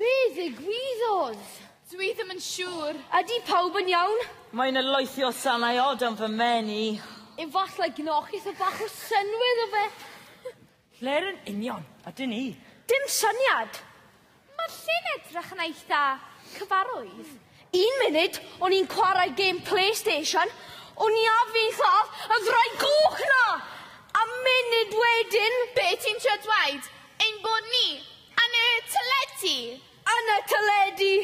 Be ddigwyddodd? Dw i ddim yn siŵr. Ydy pawb yn iawn? Mae yna loethi o sanau od am fy mhen i. Efallai gnoch eitha bach o synwydd o fe. Lle'r yn union ydyn ni? Dim syniad! Mae llyn edrych yn eitha cyfarwydd. Un munud o'n i'n chwarae gêm Playstation, o'n i ar fin lladd y ddraig goch 'na! A munud wedyn... Be' ti'n trio dweud? Ein bod ni yn y teledu? Yn y teledu!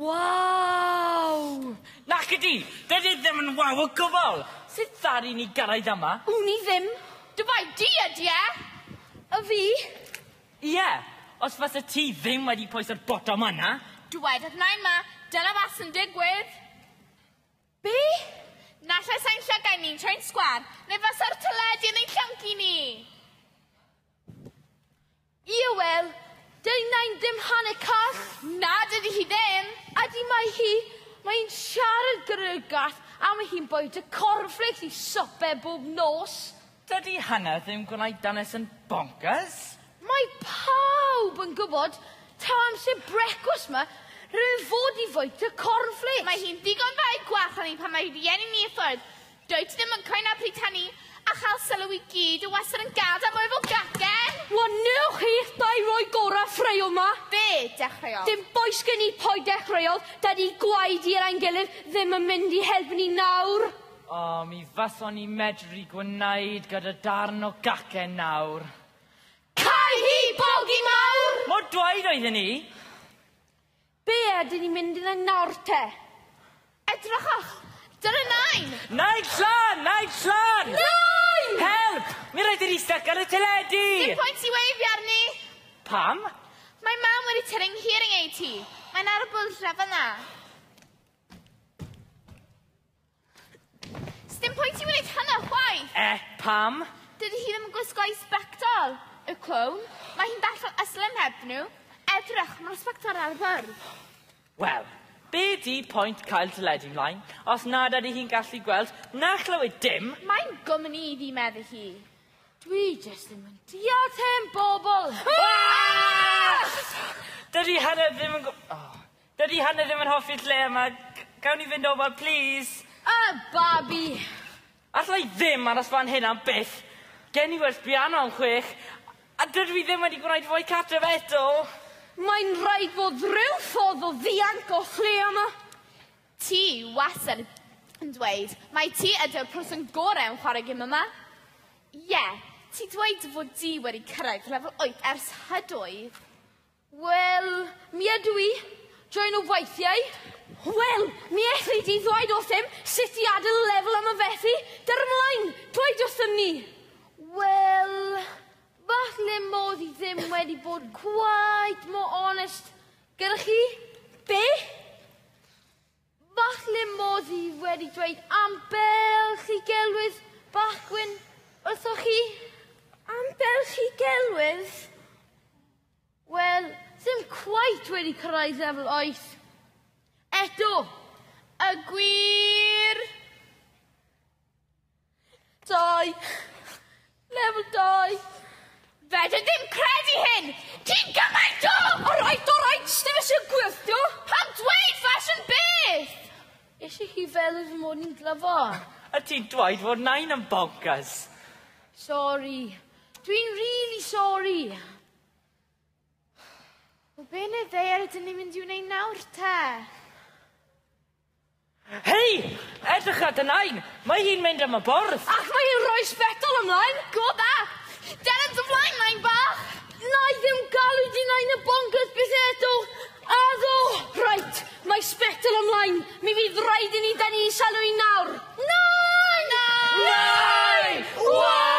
Waw! Nac ydi! Doedd e ddim yn waw o gwbl! Sut ddaru ni gyrraedd yma? Wn i ddim. Dy bai di ydi e? A fi? Ie! Os fase ti ddim wedi pwyso'r botwm yna! Dywedaf Naima, dyna beth sy'n digwydd! Be? Naill-ai sai'n llygaid ni'n troi'n sgwâr, neu fase'r teledu yn ein llyncu ni! Ie wel, dydy Nain ddim hanner call! Na, dydy hi ddim! Ydy mae hi, mae hi'n siarad gyda'r gath am ei hun bwyta cornfflêcs i swper bob nos! Dydy hynna ddim gwneud dynes yn bonkers! Mae pawb yn gwybod taw amser brecwast ma rwy'n fod i fwyta cornflakes! Mae hi'n ddigon dda i gwarchod ni pan mae rhieni ni i ffwrdd. Dwyt ti ddim yn cwyno pryd hynny, a chael sylw i gyd yw wastad yn gadael mwy fel gacen! Wel, wnewch chi dau roi gorau ffraeo ma? Be dechreuodd? Dim bois gen i pwy dechreuodd, dydy gwaedu ar ein gilydd ddim yn mynd i helpu ni nawr! O, mi fason ni medru gwneud gyda darn o gacen nawr. Cau hi, bogi mawr! Mor dwaed oedden ni! Be ydyn ni'n mynd i wneud nawr te? Edrychwch! Dyna nain! Nain Llan! Nain Llan! Nain! Help! Mi rhaid i ni styc ar y teledu! Dim pwynt i weifio arni! Pam? Mae mam wedi tynnu nghearing ei ti. Mae'n ar y bwlch na fanna. Sdim pwynt i wneud hynna chwaith! Eh, pam? Dydy hi ddim yn gwisgo i sbectol. Y clown. Mae hi'n bell o Islym heb nhw. Edrych mor sbectol ar y ffordd. Wel, be di pwynt cael teledu mlaen os nad ydy hi'n gallu gweld na chlywed dim? Mae'n gwmni i fi, medde hi. Dwi jyst ddim yn deall hen bobl! Dydy hynna ddim yn... Oh. Dydi Hannah ddim yn hoffi'r lle yma. Gawn ni fynd o ma plîs? A babi! Alla i ddim aros fan hyn am byth. Gen i werth biano am chwech a dydw i ddim wedi gwneud fwy cartref eto! Mae'n rhaid bod rhyw ffordd o ddianc o lle yma. Ti wastad yn dweud mai ti ydy'r person gorau yn chwarae gêm yma. Ie, ti dweud dy fod di wedi cyrraedd lefel wyth ers hydoedd. Wel, mi ydw i. Joio nhw weithiau. Wel, mi elli di ddweud wrthym sut i adael y lefel yma felly, ger ymlaen, dweud wrthym ni! Wel, falle modd i ddim wedi bod quite more honest gyda chi. Be? Falle modd i wedi dweud ambell i gelwydd bachwyn wrthoch chi? Ambell i gelwydd? Wel, ddim cweit wedi cyrraedd lefel oes. Eto! Y gwir! Dau. Lefel dau. Fedr ddim credu hyn! Ti'n gymaint o... Alright, alright, sdim eisiau gwirth, do? Pam dweud fashion beth? Eisiau hi fel fy mod i'n glyfo. A ti'n dweud fod nain yn bonkers. Sori. Dwi'n really sori. O be neu ddear ydyn ni mynd i wneud nawr te? Hei! Edrych ar dy nain! Mae hi'n mynd am y bwrdd! Ac mae hi'n rhoi sbectol ymlaen! Go back! Deren dy flaen, nain bach! Nai ddim galw di nain y bonkers byth eto! Addo! Reit, mae sbectol ymlaen. Mi fydd rhaid i ni dynnu i salw i nawr. Nai! Nai! Nai! Wow!